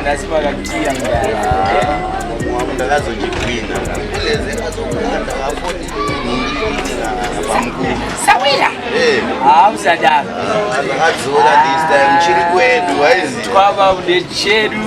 ndasipakakiya ndakazojigwina sawira hamusadaro akadzora this time chiri kwedu aizi twava kude chedu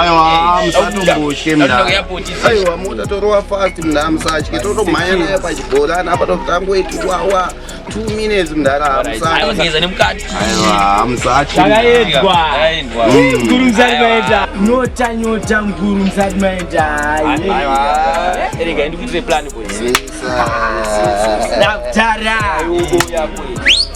aiwa musatombotye mnaiwa mota torova fast mnda musatye totomhanya naye pachibhorani apa totangoiti wawa two minutes mndara musatyenyota nyota nguru musati maendaaiaendikuitire plan boys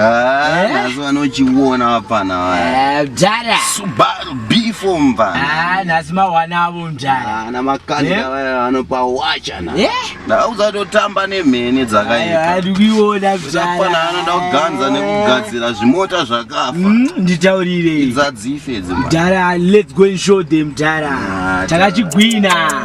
Ah, eh? nhasi vanochiona vapana vaya eh, mdara subaru before mvana ah, nhasi mawana avo mdara ah, namakanda eh? vaya vanopa wacha na ndauzatotamba nemhene dzakaitaafanana anoda kuganza nekugadzira zvimota zvakafa mm, nditaurire idzadzife dzi mdara let's go and show them mdara takachigwina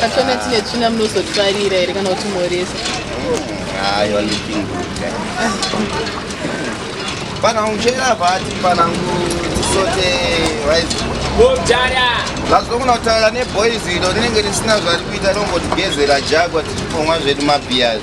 Kachona tine tsvina munozotwarira here kana kuti moresa? Hayo hmm, looking good. panangu chera vati panangu tisote vazokona kutaura neboys iro rinenge risina zvari kuita rongotigezera jagwa tichiponwa zvedu mabias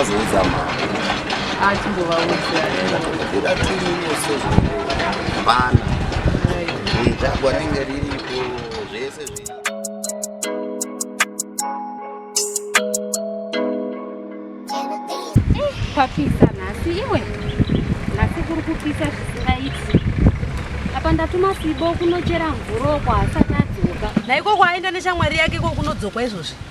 Azoudza mama. Achimbovaudza. Kuda tumwe sezvo. Bana. Ndagwa rinenge riripo zvese zviri. Papisa nhasi iwe. Nhasi kuri kupisa zvisingaiti. Apa ndatuma Sibo kunochera mvuroko asati adzoka. Naiko kwaenda neshamwari yake ko kunodzokwa izvozvi.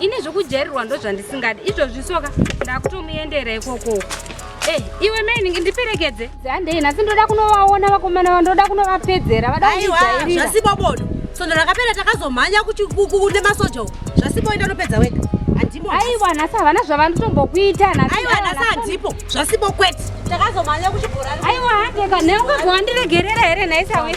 ini zvokujairirwa ndozvandisingadi izvozvi soka ndakutomuendera ikoko eh, iwe mainingi ndiperekedze handei nhasi ndoda kunovaona vakomana va ndoda kunovapedzera vadazvasipo bodo sondo rakapera takazomhanya kune masoja u zvasipo enda unopedza wega aiwa nhasi havana zvavanotombokuita aiwa nhasi handipo zvasipo kwete takazomhanya kuchibhorani aiwa handeka neungazovandiregerera here nhaisawe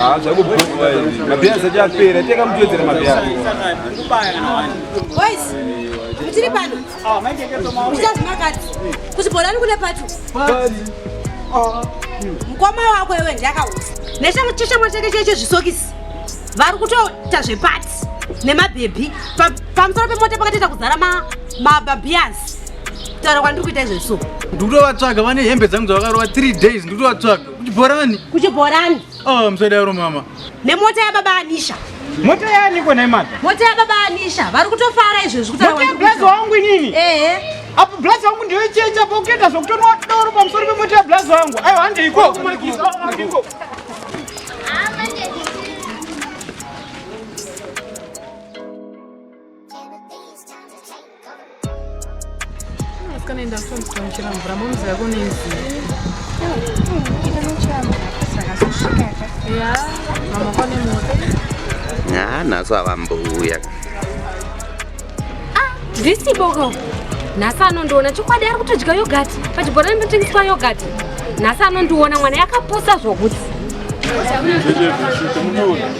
Ah, tiri pano uchazimakati kuti bholani kune pacho mukoma wako iwe ndiakausa nechichamwa chake cheche zvisokisi vari kutoita zvepati nemabhebhi pamusoro pemota pakatoita kuzara mabhabhiyazi taura kwandiri kuita izvezvo ndikutovatsvaga vane hembe dzangu dzavakarova 3 days ndikutovatsvaga Kuchibhorani. Kuchibhorani. Oh, msodaro mama. Nemota ya baba Anisha. Mota yani kwa naimata? Mota ya baba Anisha. Vari kutofara izvo zvikuta wangu. Blazo wangu nini? Eh. eh. Apo blazo wangu ndio checha apo ukienda zvokutonwa doro pamusoro pemota ya blazo wangu. Ayo hande iko. Iko. Asikana enda kushandisa muchira mvura momzi yako nenzi. Ita muchira mvura saka kusvika ka. Ya, mama kwane moto. Ah, naso avambuya. Ah, this boko. Nasa anondiona chokwadi ari kutodya yogurt. Pachibhorani panotengeswa yogurt. Nasa anondiona mwana yakapusa zvokuti.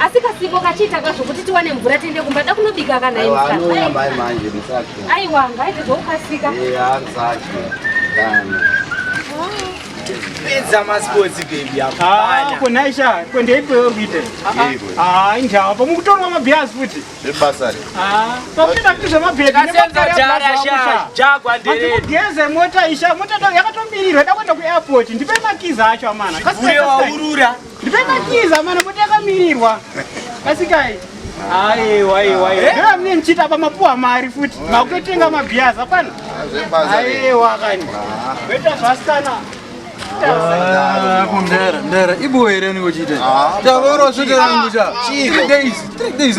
asi kasipo kachiita ka zvokuti tiwane mvura tiende kumba da kunobika kana aiwa ngaite zvokukasika pedza masports baby hapana konaisha kondeipewo kuita ah injawa pamwe kutorwa mabhias futi zvebasa ah pakuita kuti zvemabhedi kasenza jara sha jagwa ndere geze mota isha mota yakatomirirwa dakwenda ku airport ndipe makiza acho amana kasenza urura Ndipemakiza mana mutakamirirwa. Kasikai. Aiwa aiwa aiwa. Eh? Ndira mne mchita pa mapuwa mari futi. Makutotenga mabhiya zapana. Aiwa kani. Beta zvasana. Ah, mdara mdara ibo here unenge uchiita ah, tavoro svete rangu cha ah, days three days